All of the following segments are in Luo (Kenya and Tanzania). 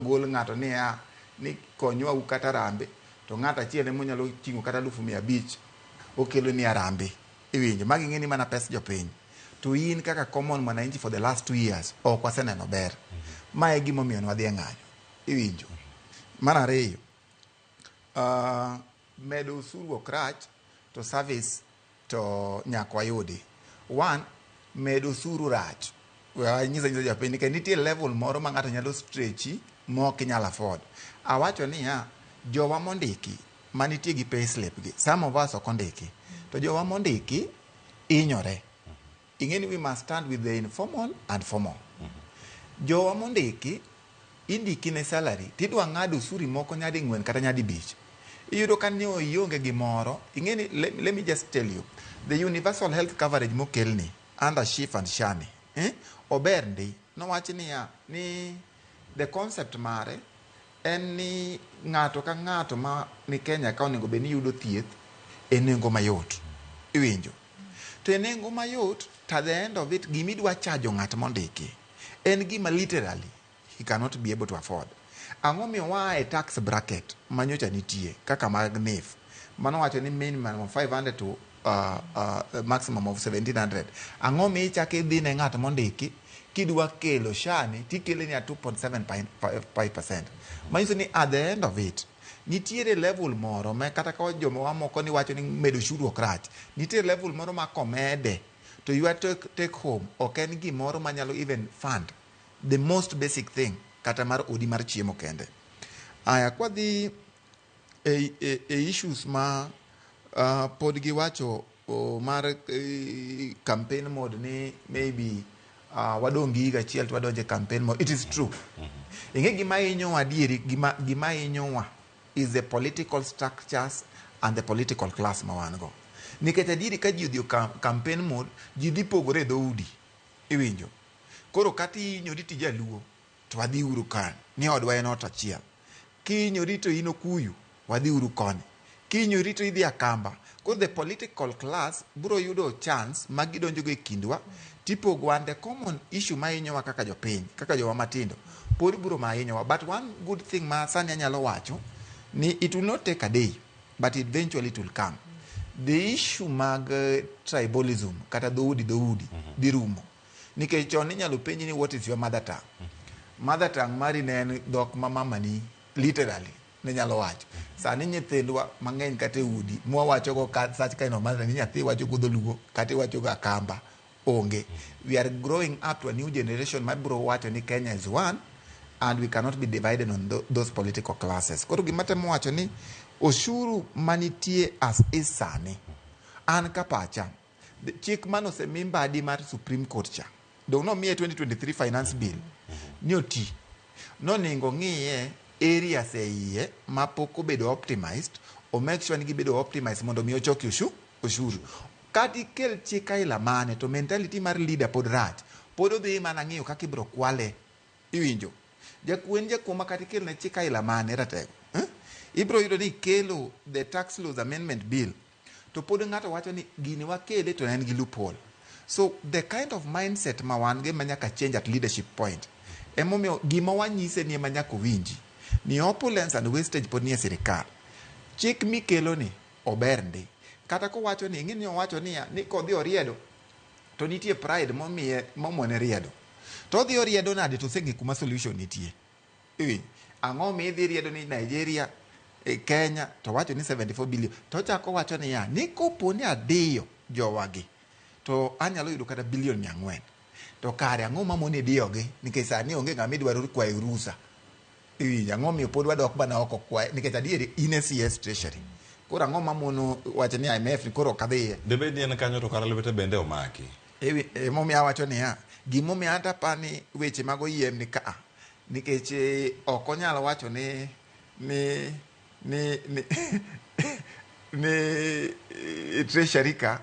gol ng'ato niya ni konywa u kata arambe to ng'ato achiel ema onyalo ting'o kata alufu mia abich okelo ni arambe iwinjo magi ing'e ni mana pes jopiny to in kaka common mwananchi for the last two years ok waseneno ber ma e gimomiyo nwadhi e ng'anyo iwinjo mar ariyo ah, Medo osuru ok rach to service to nyaka wayudi. One, medo osuru rach. We anyis anyisa jopiny ni nitie level moro ma ng'ato nyalo stretchi ma ok inyal afford. Awacho niya, jowa mondiki manitie gi payslip gi, some of us ok ondiki, to jowa mondiki hinyore. Ingeni we must stand with the informal and formal. Jowa mondiki, indiki ne salary to idwa ng'ad osuri moko nyadi ng'wen kata nyadi bich. Iyudo ka ni ionge gi moro, ingeni let, let me just tell you, the universal health coverage mokelni under SHIF and SHANI, eh, ober ndi. Nowach niya, ni The concept mare en ni ng'ato ka ng'ato ma ni Kenya ka onego bed ni yudo thieth e nengo mayot. Iwinjo? To e nengo mayot to at the end of it gima idwa chajo ng'at mondiki en gima literally he cannot be able to afford. Ang'o miyo waa e tax bracket manyocha nitie kaka mag NHIF mano wacho ni minimum of 500 to uh, uh, maximum of 1700 ang'o mi ichako idhi ne ng'at mondiki kidwa kelo shani tikele ni a 2.75 manyiso ni at the end of it nitiere level moro ma kata ka joma wamoko ni wacho ni medo shuru ok rach nitiere level moro ma komede to your take, take home ok en gimoro manyalo even fund the most basic thing kata mar odi mar chiemo kende aya kwadhi e, e, e issues ma uh, pod giwacho oh, mar eh, campaign mode ni maybe uh, wadong' gi higa achiel to wadonje campaign mode it is true ing'e gima inyowa adieri gima, gima inyowa is the political structures and the political class ma wan go nikech adieri ka ji odhi e cam- campaign mode ji dhi pogore e dhoudi iwinjo koro kata inyori tija luo to wadhi uru kany, ni odwa en ot achiel. Kiny orito in Okuyu, wadhi uru koni. Kiny orito idhi Akamba. Koro the political class biro yudo chance ma gidonjogo e kindwa tipogo and the common issue ma hinyowa kaka jopiny, kaka jowa matindo, pod biro ma hinyowa. But one good thing ma sani anyalo wacho ni it will not take a day but eventually it will come. The issue mag eh, tribalism kata dhoudi dhoudi dhi rumo. Nikech chon inyalo penji ni what is your mother tongue? Mother tongue mari ne en dhok ma mamani literally ne nyalo wacho. Sani nyithindwa mang'eny kata e udi mwawachogo ka such kind of mother ni nyathi wacho go dholuo kata iwacho go akamba onge. We are growing up to a new generation ma biro wacho ni Kenya is one and we cannot be divided on tho- those political classes. Koro gima temo wacho ni oshuru manitie as is sani an ka pacha chik mane osemi mbadi mar Supreme Court cha donge nomiye 2023 finance bill ni oti noningo ng'iye areas e iye ma pok obedo optimized o make sure ni gibedo optimized mondo mi ochoki oshu oshuru kata ikel chik aila mane to mentality mar leader pod rach pod odhi mana ng'iyo kaka ibiro kwale iwinjo jakuo en jakuo ma kata ikelne chik aila mane ratego eh? ibiro yudo ni ikelo the tax laws amendment bill To pod ng'ato wacho ni gini wakele to en gi loophole. So the kind of mindset ma wan go ema nyaka change at leadership point. Emomiyo gima wanyise ni ema nyaka owinji ni opulence and wastage pod nie sirkal. Chik mikelo ni ober ndi. Kata kowacho ni ing'e ni owacho niya ni kodhi oriedo to nitie pride momiye momone riedo. To odhi oriedo nade to oseng'e kuma solution nitie. Iwinjo? Ang'o mi idhi riedo ni Nigeria, eh, Kenya to wacho ni 74 billion to ochako wacho niya ni kopo ni adiyo jowagi to anyalo yudo kata bilion mia ang'wen to kare ang'o mamoni idiyogi nikech sani onge ng'ama idwaro kwayo rusa iwinjo ang'o miyo pod wadok mana oko kwaye nikech adier in e CS treasury koro ang'o mamono wacho ni IMF ni koro ok adhiye Debed ni en kanyo to kara lwete bende omaki. Emomiyo awacho niya, gimomiyo an to aparo ni weche mag oyiem ni ka nikech eh, ok onyal wacho ni ni ni ni ni eh, treasury ka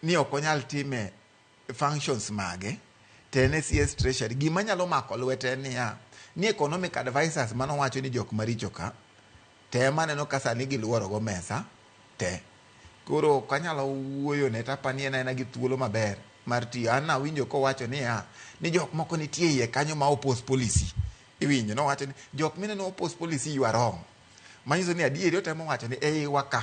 ni ok onyal time functions mage to en e CS treasury gima nyalo mako lwete en niya ni economic advisors mano wacho ni jok maricho ka Tem aneno ka sani giluoro go mesa te. Koro ok anyalo wuoyone to apa ni en aena gi thuolo maber mar tiyo. An nawinjo kowacho niya, ni jok moko nitie e iye kanyo ma oppose policy. Iwinjo? Nowacho ni, jok mineno oppose policy you are wrong. Manyiso ni adieri otemo wacho ni e iwa ka.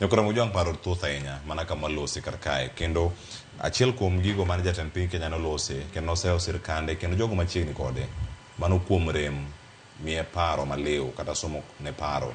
Nyakura Mujwang' paro thoth ahinya mana kama olose kar kae kendo achiel kuom gigo mane jatend piny Kenya nolose kendo nosewo sirkande kendo jogo machiegni kode mano kuom rem miye paro maliw kata somo ne paro.